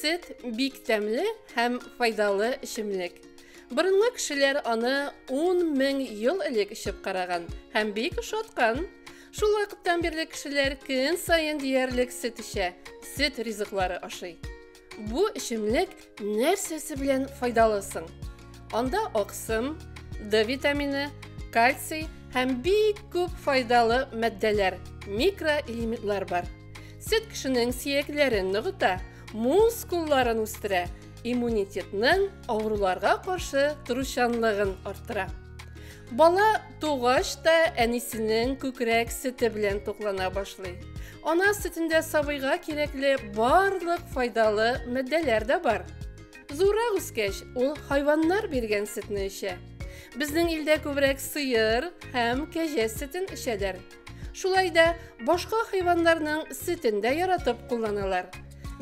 Сөт бик тәмле һәм файдалы эчемлек. Борынгы кешеләр аны 10 мең ел элек эчеп караган һәм бик ошаткан. Шул вакыттан бирле кешеләр көн саен диярлек сөт эчә, сөт ризыклары ашый. Бу эчемлек нәрсәсе белән файдалы соң? Анда аксым, D витамины, кальций һәм бик күп файдалы матдәләр, микроэлементлар бар. Сөт кешенең сөякләрен ныгыта, мускулларын үстерә, иммунитетның авыруларга каршы торучанлыгын арттыра. Бала Тугач та әнисенең күкрәк сөте белән туклана башлый. Ана сөтендә сабыйга кирәкле барлык файдалы матдәләр дә бар. Зуррак үскәч, ул хайваннар биргән сөтне эчә. Безнең илдә күбрәк сыер һәм кәҗә сөтен эчәләр. Шулай да башка хайваннарның сөтен дә яратып кулланалар.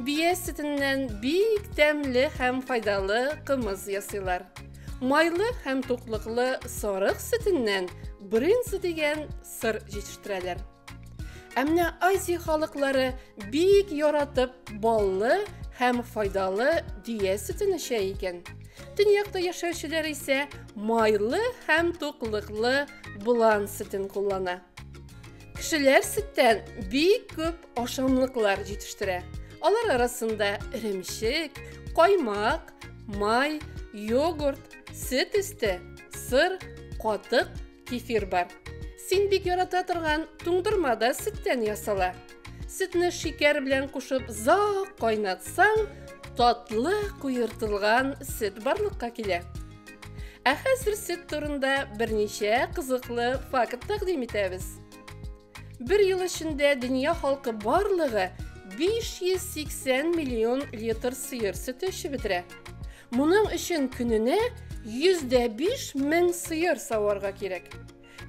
Бия сөтеннән бик тәмле һәм файдалы кымыз ясыйлар. Майлы һәм туклыклы сарык сөтеннән брынза дигән сыр җитештерәләр. Ә менә Азия халыклары бик яратып баллы һәм файдалы дөя сөтен эчә икән. Төньякта яшәүчеләр исә майлы һәм туклыклы болан сөтен куллана. Кешеләр сөттән бик күп ашамлыклар җитештерә. Алар арасында эремчек, каймак, май, йогурт, сөт өсте, сыр, катык Кефир бар. Син бик ярата торган туңдырма да сөттән ясала. Сөтне шикәр белән кушып зак кайнатсаң, татлы куертылган сөт барлыкка килә. Ә хәзер сөт турында берничә кызыклы факт тәкъдим итәбез. Бер ел эчендә дөнья халкы барлыгы 580 миллион литр сыер сөте эчеп бетерә. Моның өчен көненә 105 мең сыер саварга кирәк.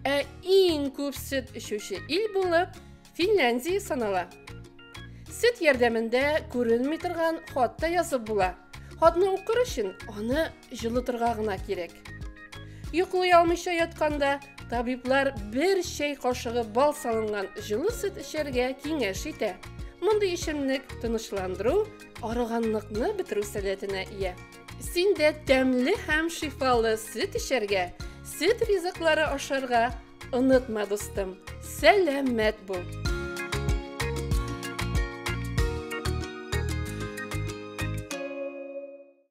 Ә иң күп сөт эчүче ил булып Финляндия санала. Сөт ярдәмендә күренми торган хат та язып була. Хатны укыр өчен аны җылытырга гына кирәк. Йоклый алмыйча ятканда табиблар бер чәй кашыгы бал салынган җылы сөт эчәргә киңәш итә. Мондый эчемлек тынычландыру, арыганлыкны бетерү сәләтенә ия. Син дә тәмле һәм шифалы сөт эчәргә, сөт ризыклары ашарга, Онытма, дустым, сәламәт бул!